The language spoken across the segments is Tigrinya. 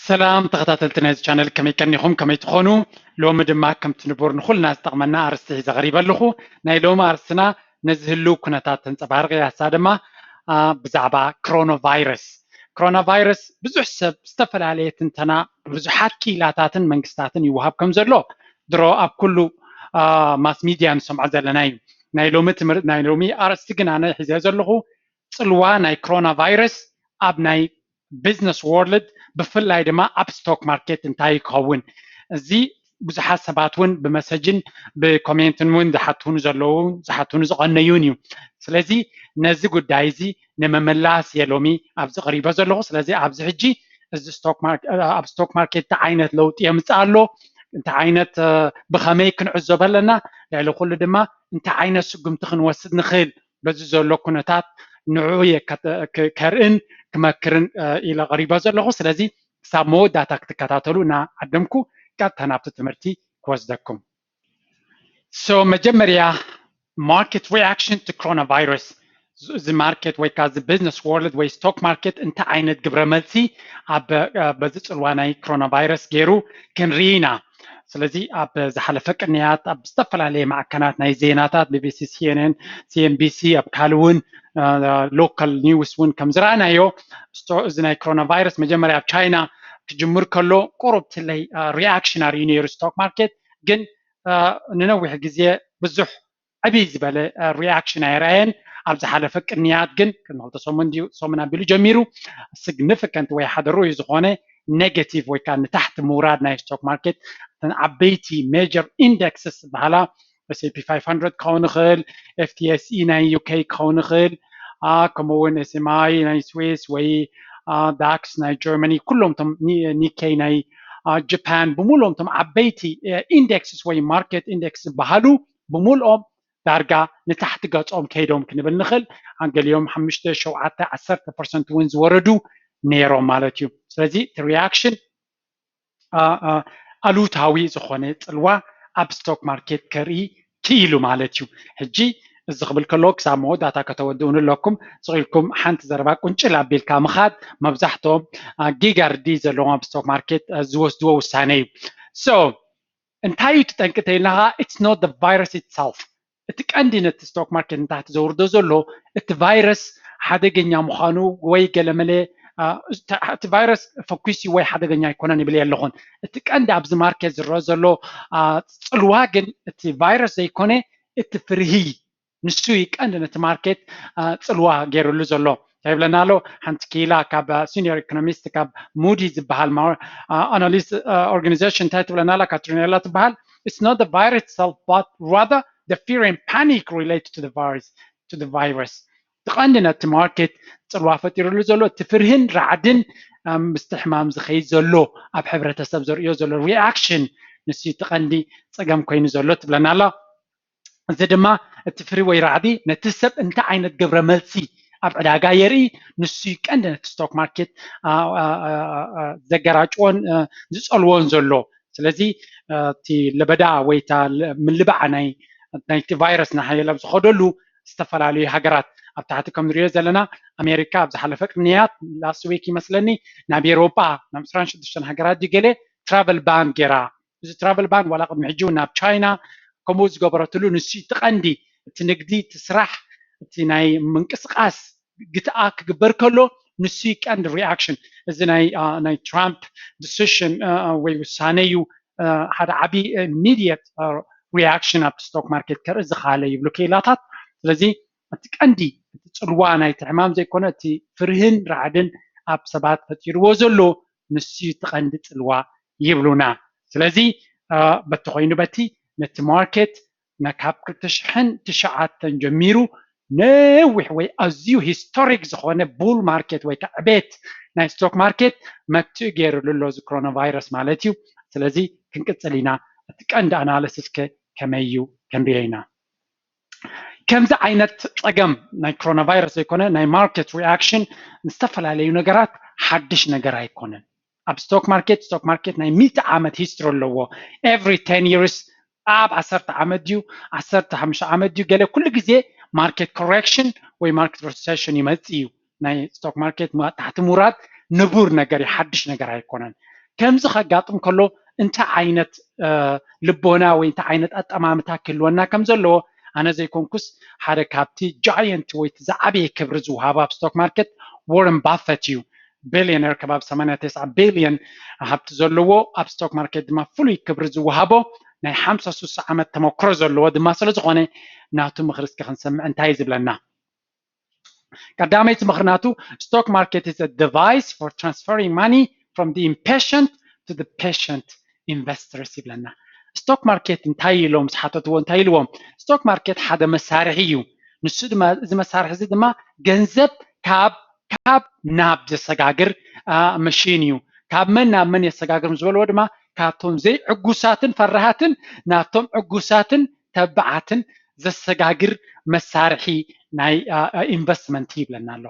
ሰላም ተኸታተልቲ ናይዚ ቻነል ከመይ ቀኒኹም ከመይ ትኾኑ ሎሚ ድማ ከምቲ ንቡር ንኹልና ዝጠቕመና ኣርስቲ ሒዘ ቐሪበ ኣለኹ ናይ ሎሚ ኣርስትና ነዚ ህልው ኩነታት ተንፀባርቕ እያ ንሳ ድማ ብዛዕባ ክሮኖ ቫይረስ ክሮና ቫይረስ ብዙሕ ሰብ ዝተፈላለየ ትንተና ብብዙሓት ክኢላታትን መንግስታትን ይወሃብ ከም ዘሎ ድሮ ኣብ ኩሉ ማስ ሚድያ ንሰምዖ ዘለና እዩ ናይ ሎሚ ትምህርቲ ናይ ሎሚ ኣርእስቲ ግን ኣነ ሒዘ ዘለኹ ፅልዋ ናይ ክሮና ቫይረስ ኣብ ናይ ቢዝነስ ዎርልድ ብፍላይ ድማ ኣብ ስቶክ ማርኬት እንታይ እዩ ክኸውን እዚ ብዙሓት ሰባት እውን ብመሰጅን ብኮሜንትን እውን ዝሓትዉኒ ዘለዉ ዝሓትዉኒ ዝቐነዩን እዩ ስለዚ ነዚ ጉዳይ እዚ ንምምላስ እየ ሎሚ ኣብዚ ቀሪበ ዘለኹ ስለዚ ኣብዚ ሕጂ እዚ ስቶክ ኣብ ስቶክ ማርኬት እንታይ ዓይነት ለውጢ የምፅእ ኣሎ እንታይ ዓይነት ብኸመይ ክንዕዘበ ኣለና ልዕሊ ኩሉ ድማ እንታይ ዓይነት ስጉምቲ ክንወስድ ንኽእል በዚ ዘሎ ኩነታት ንዕኡ እየ ከርእን ክመክርን ኢለ ቀሪበ ዘለኹ። ስለዚ ክሳብ መወዳእታ ክትከታተሉ እናዓደምኩ ቀጥታ ናብቲ ትምህርቲ ክወስደኩም። ሶ መጀመርያ ማርኬት ሪኣክሽን ቱ ኮሮና ቫይረስ እዚ ማርኬት ወይ ከዓ እዚ ቢዝነስ ወርልድ ወይ ስቶክ ማርኬት እንታይ ዓይነት ግብረ መልሲ ኣብ በዚ ፅልዋ ናይ ኮሮና ቫይረስ ገይሩ ክንርኢ ኢና። ስለዚ ኣብ ዝሓለፈ ቅንያት ኣብ ዝተፈላለየ ማዕከናት ናይ ዜናታት ቢቢሲ ሲኤንኤን ሲኤንቢሲ ኣብ ካልእ እውን ሎካል ኒውስ እውን ከም ዝረኣናዮ እዚ ናይ ኮሮና ቫይረስ መጀመርያ ኣብ ቻይና ክጅምር ከሎ ቁሩብ ትለይ ሪኣክሽናር እዩ ነይሩ ስቶክ ማርኬት ግን ንነዊሕ ግዜ ብዙሕ ዕብይ ዝበለ ሪኣክሽን ኣይርኣየን ኣብ ዝሓለፈ ቅንያት ግን ቅድሚ ክልተ ሰሙን ድዩ ሰሙን ኣቢሉ ጀሚሩ ስግኒፍከንት ወይ ሓደ ርኡይ ዝኾነ ኔጌቲቭ ወይ ከዓ ንታሕቲ ምውራድ ናይ ስቶክ ማርኬት እተን ዓበይቲ ሜጀር ኢንደክስስ ዝበሃላ ኤስፒ 500 ክኸውን ይኽእል ኤፍቲኤስኢ ናይ ዩኬ ክኸውን ይኽእል ከምኡ እውን ኤስኤምኣይ ናይ ስዊስ ወይ ዳክስ ናይ ጀርመኒ ኩሎም እቶም ኒኬይ ናይ ጃፓን ብምሉኦም እቶም ዓበይቲ ኢንደክስስ ወይ ማርኬት ኢንደክስ ዝበሃሉ ብምልኦም ዳርጋ ንታሕቲ ገፆም ከይዶም ክንብል ንኽእል። ገሊኦም ሓሙሽተ፣ ሸውዓተ፣ ዓሰርተ ፐርሰንት እውን ዝወረዱ ነይሮም ማለት እዩ። ስለዚ እቲ ሪያክሽን ኣሉታዊ ዝኾነ ፅልዋ ኣብ ስቶክ ማርኬት ከርኢ ክኢሉ ማለት እዩ። ሕጂ እዚ ክብል ከለዎ ክሳብ መወዳእታ ከተወድኡን ኣለኩም ስቂልኩም ሓንቲ ዘረባ ቁንጭል ኣቢልካ ምኻድ መብዛሕትኦም ጊጋርዲ ዘለዎም ኣብ ስቶክ ማርኬት ዝወስድዎ ውሳነ እዩ ሶ እንታይ እዩ እቲ ጠንቂ እንተይልና ከኣ ኢትስ ኖት ዘ ቫይረስ ኢትሰልፍ እቲ ቀንዲ ነቲ ስቶክ ማርኬት ንታሕቲ ዘውርዶ ዘሎ እቲ ቫይረስ ሓደገኛ ምዃኑ ወይ ገለመለ እቲ ቫይረስ ፈኲስ እዩ ወይ ሓደገኛ ኣይኮነን ይብል የለኹን እቲ ቀንዲ ኣብዚ ማርኬት ዝረአ ዘሎ ፅልዋ ግን እቲ ቫይረስ ዘይኮነ እቲ ፍርሂ ንሱ እዩ ቀንዲ ነቲ ማርኬት ፅልዋ ገይርሉ ዘሎ እንታይ ይብለና ኣሎ ሓንቲ ክኢላ ካብ ሲኒየር ኢኮኖሚስት ካብ ሙዲ ዝበሃል ኣናሊስ ኦርጋኒዜሽን እንታይ ትብለና ኣላ ካትሪኔላ ትበሃል It's not the virus itself, but rather the fear and panic related to the virus. To the virus. እቲ ቀንዲ ነቲ ማርኬት ፅልዋ ፈጢሩሉ ዘሎ እቲ ፍርህን ራዕድን ኣም፣ ምስቲ ሕማም ዝኸይድ ዘሎ ኣብ ሕብረተሰብ ዘርእዮ ዘሎ ሪኣክሽን ንሱ እቲ ቀንዲ ፀገም ኮይኑ ዘሎ ትብለና ኣላ እዚ ድማ እቲ ፍሪ ወይ ራዕዲ ነቲ ሰብ እንታይ ዓይነት ግብረ መልሲ ኣብ ዕዳጋ የርኢ ንሱ እዩ ቀንዲ ነቲ ስቶክ ማርኬት ዘገራጭዎን ዝፀልዎን ዘሎ ስለዚ እቲ ለበዳ ወይ እታ ምልባዕ ናይ ናይቲ ቫይረስ ናሓየለ ኣብ ዝኸደሉ ዝተፈላለዩ ሃገራት ኣብ ታሕቲ ከም ንሪኦ ዘለና ኣሜሪካ ኣብ ዝሓለፈ ቅንያት ላስት ዊክ ይመስለኒ ናብ ኤሮጳ ናብ ዕስራን ሽዱሽተን ሃገራት ድዩ ገለ ትራቨል ባን ገይራ እዚ ትራቨል ባን ዋላ ቅድሚ ሕጂ ውን ናብ ቻይና ከምኡ ዝገበረትሉ ንሱ እቲ ቀንዲ እቲ ንግዲ እቲ ስራሕ እቲ ናይ ምንቅስቃስ ግትኣ ክግበር ከሎ ንሱ ዩ ቀንዲ ሪኣክሽን እዚ ናይ ናይ ትራምፕ ዲሲሽን ወይ ውሳነ ዩ ሓደ ዓቢ ሚድየት ሪኣክሽን ኣብቲ ስቶክ ማርኬት ከርኢ ዝኸኣለ ይብሉ ክኢላታት ስለዚ እቲ ቀንዲ እቲ ጽልዋ ናይቲ ሕማም ዘይኮነ እቲ ፍርህን ራዕድን ኣብ ሰባት ፈጢርዎ ዘሎ ንሱዩ እቲ ቀንዲ ጽልዋ ይብሉና ስለዚ በቲ ኮይኑ በቲ ነቲ ማርኬት ካብ ክልተ ሽሕን ትሽዓተን ጀሚሩ ነዊሕ ወይ ኣዝዩ ሂስቶሪክ ዝኾነ ቡል ማርኬት ወይ ከ ዕቤት ናይ ስቶክ ማርኬት መትኡ ጌርሉ ኣሎ እዚ ክሮኖ ቫይረስ ማለት እዩ ስለዚ ክንቅጽል ኢና እቲ ቀንዲ ኣናለስስ ከ ከመይ እዩ ከንሪኦ ኢና። ከምዚ ዓይነት ፀገም ናይ ኮሮና ቫይረስ ዘይኮነ ናይ ማርኬት ሪኣክሽን ዝተፈላለዩ ነገራት ሓድሽ ነገር ኣይኮነን ኣብ ስቶክ ማርኬት ስቶክ ማርኬት ናይ ሚእቲ ዓመት ሂስትሪ ኣለዎ ኤቭሪ ቴን ይርስ ኣብ ዓሰርተ ዓመት ድዩ ዓሰርተ ሓሙሽተ ዓመት ድዩ ገለ ኩሉ ግዜ ማርኬት ኮሬክሽን ወይ ማርኬት ሪሴሽን ይመፅእ እዩ ናይ ስቶክ ማርኬት መቐጣሕቲ ምውራድ ንቡር ነገር እዩ፣ ሓድሽ ነገር ኣይኮነን። ከምዚ ከጋጥም ከሎ እንታይ ዓይነት ልቦና ወይ እንታይ ዓይነት ኣጠማምታ ክህልወና ከም ዘለዎ ኣነ ዘይኮንኩስ ሓደ ካብቲ ጃየንት ወይ እቲ ዝዓበየ ክብሪ ዝውሃብ ኣብ ስቶክ ማርኬት ዎረን ባፈት እዩ። ቢልዮነር ከባቢ ሰማንያ ተስዓ ቢልዮን ሃብቲ ዘለዎ ኣብ ስቶክ ማርኬት ድማ ፍሉይ ክብሪ ዝውሃቦ ናይ ሓምሳ ሱሳ ዓመት ተመክሮ ዘለዎ ድማ ስለዝኾነ ናቱ ምኽሪ እስኪ ክንሰምዕ እንታይ እዩ ዝብለና? ቀዳመይቲ ምኽንያቱ ስቶክ ማርኬት ኢዝ ዲቫይስ ፎር ትራንስፈሪንግ ማኒ ፍሮም ኢምፔሽንት ቱ ፔሽንት ኢንቨስተርስ ይብለና ስቶክ ማርኬት እንታይ ኢሎም ዝሓተትዎ እንታይ ኢልዎም ስቶክ ማርኬት ሓደ መሳርሒ እዩ ንሱ ድማ እዚ መሳርሒ እዚ ድማ ገንዘብ ካብ ካብ ናብ ዘሰጋግር መሽን እዩ ካብ መን ናብ መን የሰጋግር ዝበልዎ ድማ ካብቶም ዘይዕጉሳትን ፈራሃትን ናብቶም ዕጉሳትን ተባዓትን ዘሰጋግር መሳርሒ ናይ ኢንቨስትመንት ይብለና ኣሎ።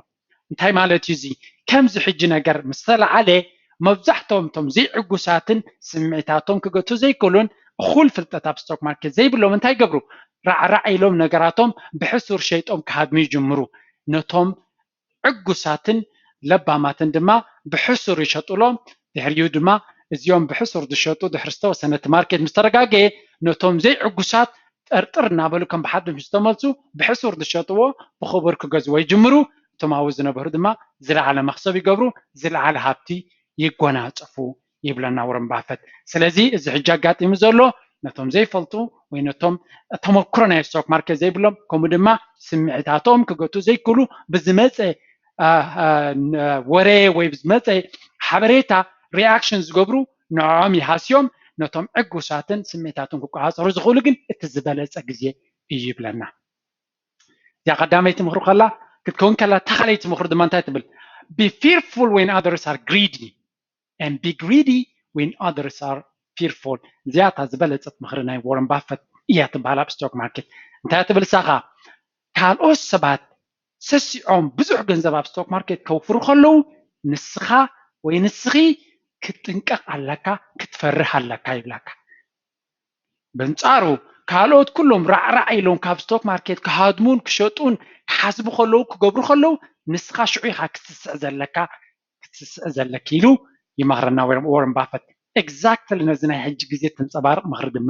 እንታይ ማለት እዩ እዚ? ከምዚ ሕጂ ነገር ምስ ተላዓለ መብዛሕትኦም እቶም ዘይዕጉሳትን ስምዒታቶም ክገትኡ ዘይክእሉን እኹል ፍልጠት ኣብ ስቶክ ማርኬት ዘይብሎም እንታይ ይገብሩ? ራዕራዕ ኢሎም ነገራቶም ብሕሱር ሸይጦም ክሃድሙ ይጅምሩ። ነቶም ዕጉሳትን ለባማትን ድማ ብሕሱር ይሸጡሎም ድሕሪኡ ድማ እዚኦም ብሕሱር ዝሸጡ ድሕሪ ዝተወሰነ እቲ ማርኬት ምስ ተረጋገየ ነቶም ዘይዕጉሳት ጠርጥር እናበሉ ከም ብሓድሽ ምስ ዝተመልሱ ብሕሱር ዝሸጥዎ ብኽቡር ክገዝዎ ይጅምሩ እቶም ኣብኡ ዝነበሩ ድማ ዝለዓለ መኽሰብ ይገብሩ ዝለዓለ ሃብቲ ይጎናፀፉ ይብለና ወረን ባፈት። ስለዚ እዚ ሕጂ ኣጋጢሙ ዘሎ ነቶም ዘይፈልጡ ወይ ነቶም ተመክሮ ናይ ስቶክ ማርኬት ዘይብሎም ከምኡ ድማ ስምዒታቶም ክገቱ ዘይክእሉ ብዝመፀ ወረ ወይ ብዝመፀ ሓበሬታ ሪኣክሽን ዝገብሩ ንዕኦም ይሃስዮም ነቶም ዕጉሳትን ስምዒታቶም ክቆፃፀሩ ዝኽእሉ ግን እቲ ዝበለፀ ግዜ እዩ ይብለና እዚኣ ቀዳመይቲ ምኽሪ ከላ ክትከውን ከላ ተኻለይቲ ምኽሪ ድማ እንታይ ትብል ቢ ፊርፉል ወን ኣደርስ ኣር ግሪዲ and be greedy when others are fearful እዚኣ እታ ዝበለጸት ምኽሪ ናይ ዎረን ባፈት እያ ትበሃል ኣብ ስቶክ ማርኬት እንታይ እያ ትብል እሳኻ ካልኦት ሰባት ሰሲዖም ብዙሕ ገንዘብ ኣብ ስቶክ ማርኬት ከውፍሩ ከለዉ ንስኻ ወይ ንስኺ ክትጥንቀቕ ኣለካ ክትፈርህ ኣለካ ይብላካ በንጻሩ ካልኦት ኩሎም ራዕራዕ ኢሎም ካብ ስቶክ ማርኬት ክሃድሙን ክሸጡን ክሓስቡ ከለዉ ክገብሩ ከለዉ ንስኻ ሽዑ ኢኻ ክትስስዕ ዘለካ ክትስስዒ ዘለኪ ኢሉ ይመኽረና ዎረን ባፈት። ኤግዛክትሊ ነዚ ናይ ሕጂ ግዜ ተንጸባርቕ ምኽሪ ድማ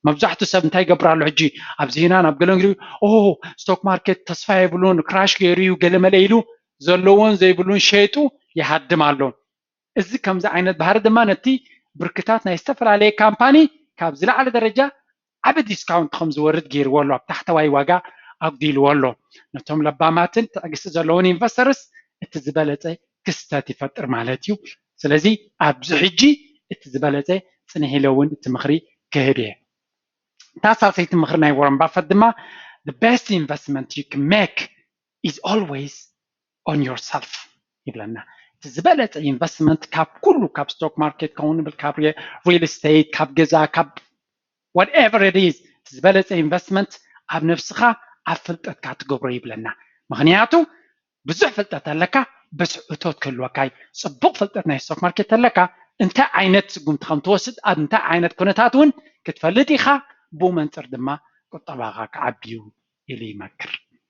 መብዛሕቱ ሰብ እንታይ ይገብር ኣሎ ሕጂ ኣብ ዜናን ኣብ ገለን ግዜ ኦሆ ስቶክ ማርኬት ተስፋ የብሉን ክራሽ ገይሩ እዩ ገለመለ ኢሉ ዘለዎን ዘይብሉን ሸይጡ ይሃድም ኣሎ እዚ ከምዚ ዓይነት ባህሪ ድማ ነቲ ብርክታት ናይ ዝተፈላለየ ካምፓኒ ካብ ዝለዓለ ደረጃ ዓቢ ዲስካውንት ከም ዝወርድ ገይርዎ ኣሎ፣ ኣብ ታሕተዋይ ዋጋ ኣጒዲልዎ ኣሎ። ነቶም ለባማትን ትዕግስቲ ዘለዎን ኢንቨስተርስ እቲ ዝበለጸ ክስተት ይፈጥር ማለት እዩ። ስለዚ ኣብዚ ሕጂ እቲ ዝበለጸ ጽንሕ ኢለ እውን እቲ ምኽሪ ክህብ እየ። እታ ሳልሰይቲ ምኽሪ ናይ ዎረን ባፈት ድማ The best investment you can make is always on yourself ይብለና እቲ ዝበለፀ ኢንቨስትመንት ካብ ኩሉ ካብ ስቶክ ማርኬት ከውን ይብል ካብ ሪል ስቴት ካብ ገዛ ካብ whatever it is እቲ ዝበለፀ ኢንቨስትመንት ኣብ ነብስኻ ኣብ ፍልጠትካ ትገብሮ ይብለና ምክንያቱ ብዙሕ ፍልጠት ኣለካ በስ እቶት ክህልወካ እዩ ፅቡቅ ፍልጠት ናይ ስቶክ ማርኬት ተለካ እንታይ ዓይነት ስጉምቲ ከም ትወስድ ኣብ እንታይ ዓይነት ኩነታት እውን ክትፈልጥ ኢኻ ብኡ መንፅር ድማ ቁጠባኻ ክዓቢ እዩ ኢሉ ይመክር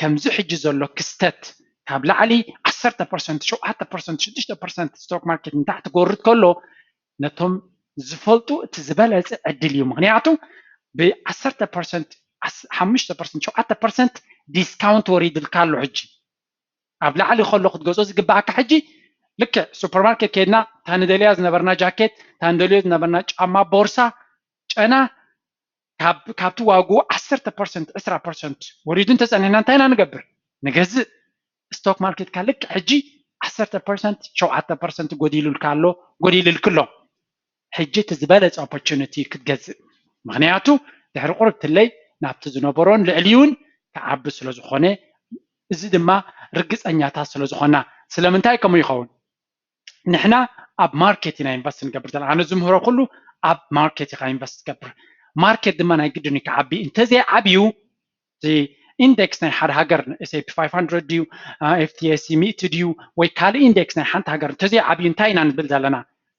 ከምዚ ሕጂ ዘሎ ክስተት ካብ ላዕሊ ዓሰርተ ፐርሰንት፣ ሸውዓተ ፐርሰንት፣ ሽዱሽተ ፐርሰንት ስቶክ ማርኬት ንታሕቲ ክወርድ ከሎ ነቶም ዝፈልጡ እቲ ዝበለጸ ዕድል እዩ። ምኽንያቱ ብዓሰርተ ፐርሰንት፣ ሓሙሽተ ፐርሰንት፣ ሸውዓተ ፐርሰንት ዲስካውንት ወሪድልካ ኣሎ ሕጂ ኣብ ላዕሊ ከሎ ክትገዝኦ ዝግብኣካ ሕጂ ልክዕ ሱፐር ማርኬት ከይድና እታ ንደልያ ዝነበርና ጃኬት እታ ንደልዮ ዝነበርና ጫማ ቦርሳ ጨና ካብ ካብቲ ዋግኡ ዓሰርተ ፐርሰንት ዕስራ ፐርሰንት ወሪዱ እንተጸኒሕና እንታይ ኢና ንገብር? ንገዝእ። ስቶክ ማርኬትካ ልክዕ ሕጂ ዓሰርተ ፐርሰንት ሸውዓተ ፐርሰንት ጎዲሉልካ ኣሎ ጎዲልልኪ ኣሎ። ሕጂ እቲ ዝበለጸ ኦፖርቹኒቲ እዩ ክትገዝእ ምኽንያቱ ድሕሪ ቁርብ ትለይ ናብቲ ዝነበሮን ልዕሊኡን ክዓቢ ስለ ዝኾነ እዚ ድማ ርግጸኛታት ስለ ዝኾና። ስለምንታይ ከምኡ ይኸውን? ንሕና ኣብ ማርኬት ኢና ኢንቨስት ንገብር ዘለና ኣነ ዝምህሮ ኩሉ ኣብ ማርኬት ኢኻ ኢንቨስት ትገብር ማርኬት ድማ ናይ ግድን እዩ ክዓቢ እንተዘይዓብዩ እቲ ኢንደክስ ናይ ሓደ ሃገር ኤስፒ 500 ድዩ ኤፍቲኤሲ ሚእቲ ድዩ ወይ ካልእ ኢንደክስ ናይ ሓንቲ ሃገር እንተዘይዓብዩ እንታይ ኢና ንብል ዘለና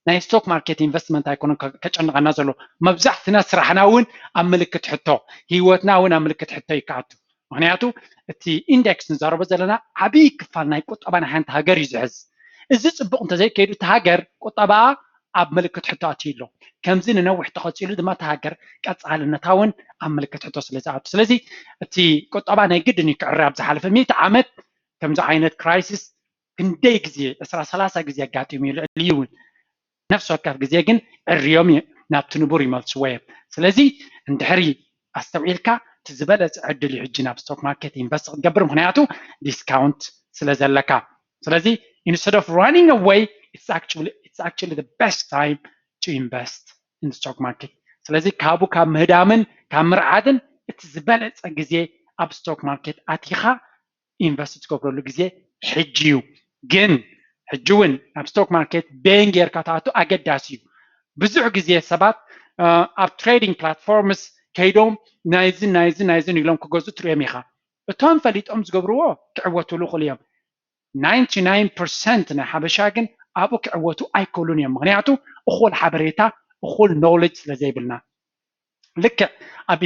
ናይ ስቶክ ማርኬት ኢንቨስትመንት ኣይኮነን ከጨንቐና ዘሎ መብዛሕትና ስራሕና እውን ኣብ ምልክት ሕቶ ሂወትና እውን ኣብ ምልክት ሕቶ እዩ ክኣቱ ምኽንያቱ እቲ ኢንደክስ ንዛረቦ ዘለና ዓብይ ክፋል ናይ ቁጠባ ናይ ሓንቲ ሃገር እዩ ዝሕዝ። እዚ ፅቡቕ እንተዘይከይዱ እታ ሃገር ቁጠባኣ ኣብ ምልክት ሕቶ ኣትዩ ኣሎ። ከምዚ ንነዊሕ ተቐፂሉ ድማ እታ ሃገር ቀፃልነታ እውን ኣብ ምልክት ሕቶ ስለዝኣቱ ስለዚ እቲ ቁጠባ ናይ ግድን እዩ ክዕረ ኣብ ዝሓለፈ ሚእቲ ዓመት ከምዚ ዓይነት ክራይሲስ ክንደይ ግዜ ዕስራ ሰላሳ ግዜ ኣጋጢሙ'ዩ ልዕሊኡ ውን ነፍሲ ወከፍ ግዜ ግን ዕርዮም ናብቲ ንቡር ይመልስዎ እዮም ስለዚ እንድሕሪ ኣስተውዒልካ እቲ ዝበለጸ ዕድል እዩ ሕጂ ናብ ስቶክ ማርኬት ኢንቨስት ክትገብር ምኽንያቱ ዲስካውንት ስለ ዘለካ ስለዚ instead of running away it's actually it's actually the best time to invest in the stock market ስለዚ ካብኡ ካብ ምህዳምን ካብ ምርዓድን እቲ ዝበለጸ ግዜ ኣብ ስቶክ ማርኬት ኣቲኻ ኢንቨስት ትገብረሉ ግዜ ሕጂ እዩ ግን ሕጂ እውን ናብ ስቶክ ማርኬት በየን ጌርካ ትኣቱ ኣገዳሲ እዩ ብዙሕ ግዜ ሰባት ኣብ ትሬዲንግ ፕላትፎርምስ ከይዶም ናይዝን ናይዝን ናይዝን ኢሎም ክገዙ ትርእዮም ኢኻ እቶም ፈሊጦም ዝገብርዎ ክዕወቱሉ ይኽእሉ እዮም 99 ፐርሰንት ናይ ሓበሻ ግን ኣብኡ ክዕወቱ ኣይክእሉን እዮም ምክንያቱ እኹል ሓበሬታ እኹል ኖሌጅ ስለ ዘይብልና ልክዕ ኣብ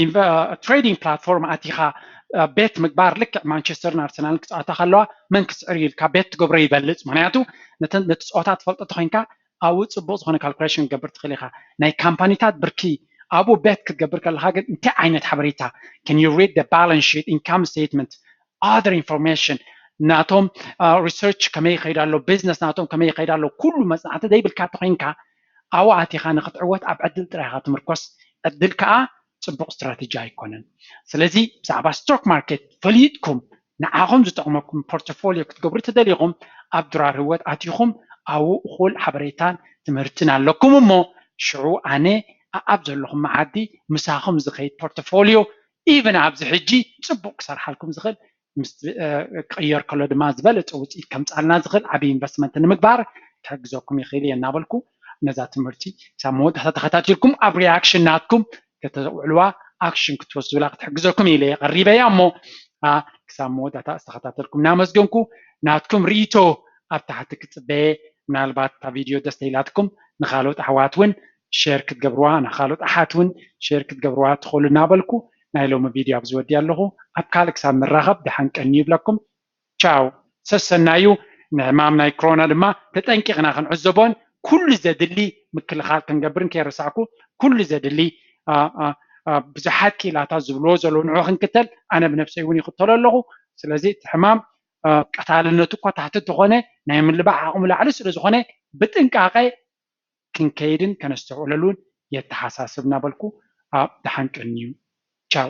ትሬዲንግ ፕላትፎርም ኣቲኻ ቤት ምግባር ልክዕ ማንቸስተርን ኣርሰናልን ክፃወታ ከለዋ መን ክስዕር እዩ ኢልካ ቤት ትገብሮ ይበልፅ ምክንያቱ ነቲ ፀወታ ትፈልጦ ተኮይንካ ኣብኡ ፅቡቅ ዝኮነ ካልኩሌሽን ክትገብር ትክእል ኢካ ናይ ካምፓኒታት ብርኪ ኣብኡ ቤት ክትገብር ከለካ ግን እንታይ ዓይነት ሓበሬታ can you read the balance sheet income statement other information ናቶም ሪሰርች ከመይ ይኸይድ ኣሎ ቢዝነስ ናቶም ከመይ ይኸይድ ኣሎ ኩሉ መፅናዕቲ ዘይብልካ ተኮይንካ ኣብኡ ኣቲኻ ንኽትዕወት ኣብ ዕድል ጥራይ ኢኻ ትምርኮስ፣ ዕድል ከኣ ጽቡቕ ስትራተጂ ኣይኮነን። ስለዚ ብዛዕባ ስቶክ ማርኬት ፈሊጥኩም ንዓኹም ዝጠቕመኩም ፖርቶፎልዮ ክትገብሩ ተደሊኹም ኣብ ድራር ህይወት ኣቲኹም ኣብኡ እኹል ሓበሬታን ትምህርትን ኣለኩም እሞ ሽዑ ኣነ ኣኣብ ዘለኹም መዓዲ ምሳኹም ዝኸይድ ፖርቶፎልዮ ኢቭን ኣብዚ ሕጂ ጽቡቕ ክሰርሓልኩም ዝኽእል ምስ ክቕየር ከሎ ድማ ዝበለፀ ውፅኢት ከምፅኣልና ዝኽእል ዓብዪ ኢንቨስትመንት ንምግባር ክሕግዘኩም ይኽእል እየ እናበልኩ ነዛ ትምህርቲ ክሳብ መወዳእታ ተኸታቲልኩም ኣብ ሪያክሽን ናትኩም ከተውዕልዋ ኣክሽን ክትወስዱላ ክትሕግዘኩም እየ ኢለ እየ ቀሪበያ እሞ ክሳብ መወዳእታ ዝተኸታተልኩም እናመስገንኩ ናትኩም ርኢቶ ኣብ ታሕቲ ክፅበየ ምናልባት እታ ቪድዮ ደስ ተኢላትኩም ንካልኦት ኣሕዋት እውን ሼር ክትገብርዋ ንካልኦት ኣሓት ውን ሼር ክትገብርዋ ትክእሉ እናበልኩ ናይ ሎሚ ቪድዮ ኣብዚ ወዲኣ ኣለኩ ኣብ ካልእ ክሳብ ንራከብ ድሓን ቀንዩ ይብለኩም ቻው ሰሰናዩ ንሕማም ናይ ክሮና ድማ ተጠንቂቅና ክንዕዘቦን ኩሉ ዘድሊ ምክልካል ክንገብርን ከይረሳዕኩ ኩሉ ዘድሊ ብዙሓት ክኢላታት ዝብልዎ ዘለዉ ንዑ ክንክተል ኣነ ብነብሰይ ውን ይክተሎ ኣለኩ ስለዚ እቲ ሕማም ቀታልነቱ እኳ ታሕቲ እንተኮነ ናይ ምልባዕ ዓቅሙ ላዕሊ ስለዝኮነ ብጥንቃቀ ክንከይድን ከነስተውዕለሉን የተሓሳስብ እናበልኩ ኣብ ደሓን ቀንዩ ቻው።